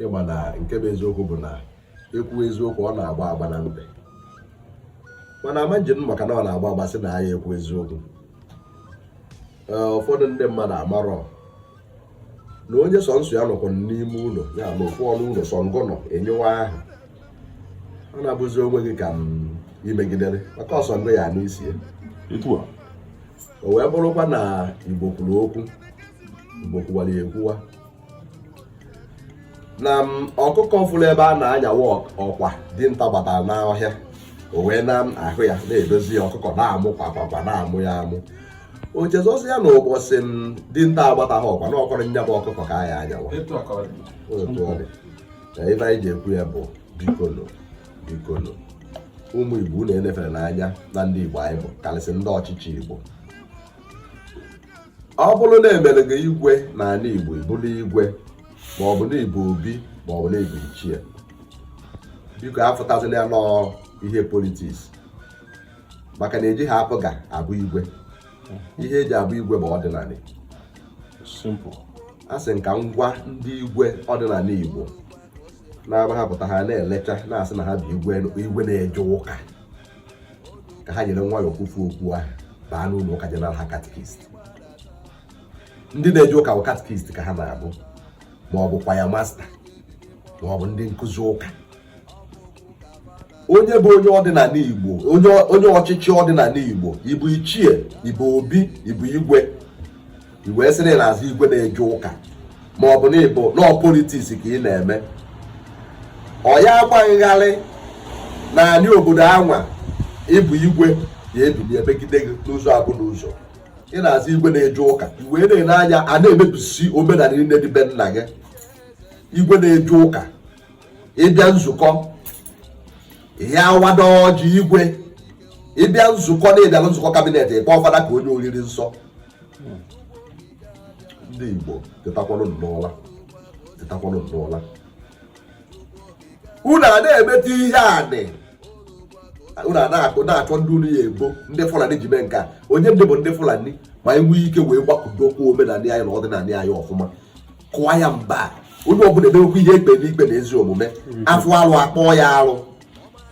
ịma na nke bụ eziokwu bụ na e kwuo eziokwu ọ na-agba agba na mbe mana a ma-eji maka na ọ na-agba agba sị na ya ekwu eziokwu ụfọdụ ndị mmadụ amarọ na onye sọ nsọ ya nọkwa n'ime ụlọ ya na ofu ọnụ ụlọ sọ ngọ nọ enyewa ahụ ọ na-abụzi onwe gị ka i megidere maka ọsọ ngọ ya n'isi ya o wee bụrụkwa na igbo kwuru okwu igbo kwuwara ekwuwa na ọkụkọ fụrụ ebe a na-anyawa ọkwa dinta gbatara n'ọhịa o wee na-ahụ ya na-edozi ya ọkụkọ na-amụ kwakwakwa na-amụ ya amụ o chezọzi ya na ụbọchị dinta agbataghị ọkwa na ọkọrọ nya bụ ọkụkọ ka a ya-anyawa otu ọ dị na ife anyị ji ekwu ya bụ bikolo bikolo ụmụ igbo na-enefere n'anya na ndị igbo anyị bụ karịsị ndị ọchịchị igbo ọ bụrụ na e mere gị igwe n'ala Igbo ị bụrụ igwe ma ọ bụ na ị bụ obi ma ọ bụ na ị bụ ichie biko afụtazila ya n'ọọ ihe politiks maka na ejighị APGA abụ igwe ihe e ji abụ igwe bụ ọdịnala asị m ka m gwa ndị igwe ọdịnala Igbo na-agbahapụta ha na-elecha na-asị na ha bụ igwe na-eje ụka ka ha were nwayọọ kpufu okpu ahụ baa n'ụlọ ụka jee nara ha katikist ndị na-eje ụka bụ katikist ka ha na-abụ ma ọ bụ kwaya masta ma ọ bụ ndị nkụzi ụka onye bụ onye ọdịnala igbo onye ọchịchị ọdịnala igbo ị bụ ichie ị bụ obi ị bụ igwe i wee sịrị na-aza igwe na-eje ụka ma ọ bụ na ị bụ n'ọọ politiks ka ị na-eme ọ ya agba gị gharị na anị obodo anwa ị bụ igwe ya ebili emegide gị n'ụzọ abụ n'ụzọ ị na-aza igwe na-eje ụka i wee na-ele anya a na-emebisi omenala niile dị be nna gị igwe na-eje ụka ị bịa nzukọ ị ya awado ọjị igwe ị bịa nzukọ na ị bịa na nzukọ kabinet ị kpọọ fada ka o nye oriri nsọ ndị Igbo tetakwalụ n'ụla tetakwalụ n'ụla unu a na-emeta ihe anị unu a na-akụ na-achọ ndị unu ya ebo ndị Fulani ji mee nke a onye dị bụ ndị Fulani ma anyị nwee ike wee gbakọdo okwu omenala anyị na ọdịnala anyị ọfụma kụọ ya mba onye ọbụla emewekwa ihe ekpe n'ikpe na ezi omume a fụ alụ a kpọọ ya alụ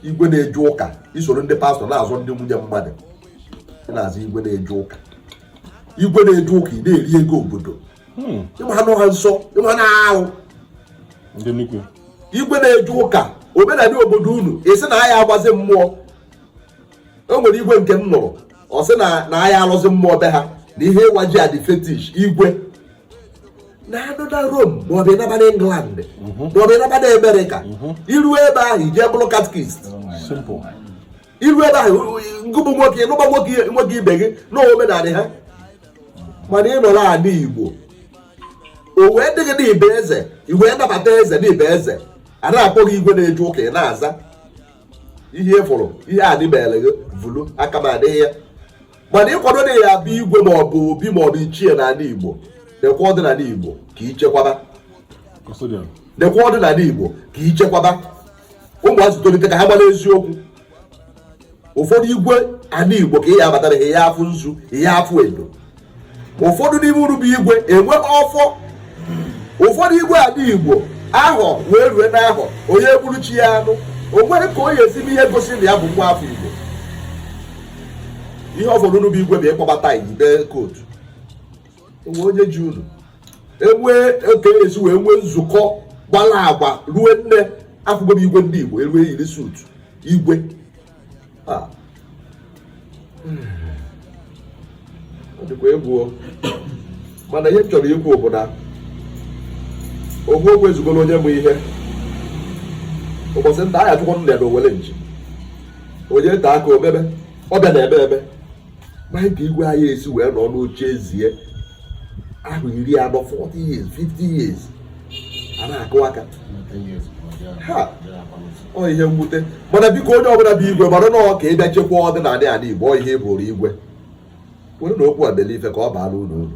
igwe na-eje ụka i soro ndị pastọ na-azọ ndị nwunye mmadụ ị na-aza igwe na-eje ụka igwe na-eje ụka ị na-eri ego obodo hmm. ịma anụ ha nsọ ịma na ahụ igwe na-eje ụka omenala obodo unu ị sị na a ya agbazi mmụọ o nwere igwe nke m nụrụ ọ sị na a ya alọzi mmụọ be ha na ihe ịwa ji adị fetish igwe na-anọ na Rome maọbụ ịnaba na England mhm. maọbụ ịnaba na Amerịka mhm. i ru ebe ahụ i je bụrụ katikist i ru ebe ahụ ngị bụ nwoke ịnụba nwoke ibe gị na omenala ha mana ị nọrọ ala Igbo o wee dịghị na ibe eze i wee nabata eze na ibe eze a na-akpọ gị igwe na-eje ụka ị na-aza ihe ị fụrụ ihe adịbere gị vulu aka m adịghị ya mana ị kwado na ị ya-abụ igwe ma ọ bụ obi ma ọ bụ ichie n'ala igbo dekwa ọdịnala igbo ka ichekwaba dekwa ọdịnala igbo ka ichekwaba ụmụazị tolite ka ha mara eziokwu ụfọdụ igwe ala igbo ka ị ya-abatara ị ya-afụ nzu ị ya-afụ edo ụfọdụ n'ime unu bụ igwe enwe ọfọ ụfọdụ igwe ala igbo ahọ wee rue n'ahọ onye gburu chi ya anụ o nwere ka o ya esi me ihe gosi na ya bụ nwa afọ igbo ihe ụfọdụ unu bụ igwe bụ ịkpọbata ibe kootu o nwe onye ji unu enwee oke esi wee nwee nzukọ gbara agba ruo nne afụgo m igwe ndị igbo erue yiri suutu igwe ah. dịkwa egwu o mana ihe m chọrọ ikwu bụ na okwu okwu ezugoro onye ma ihe ụbọchị nta a ya-achụkwanụ ya na owere nchi onye nta aka omebe ọbịa na ebe ebe maka igwe anyị esi wee nọ n'oche eze ahọ iri anọ 40 years 50 years a na-akụ aka ha ọ ihe mwute mana biko onye ọbụla bụ igwe mara na ọ ka ị bịa chekwa ọdịnala ala Igbo ọ ihe bụrụ igwe werenụ okwu a mere ife ka ọ baara unu uru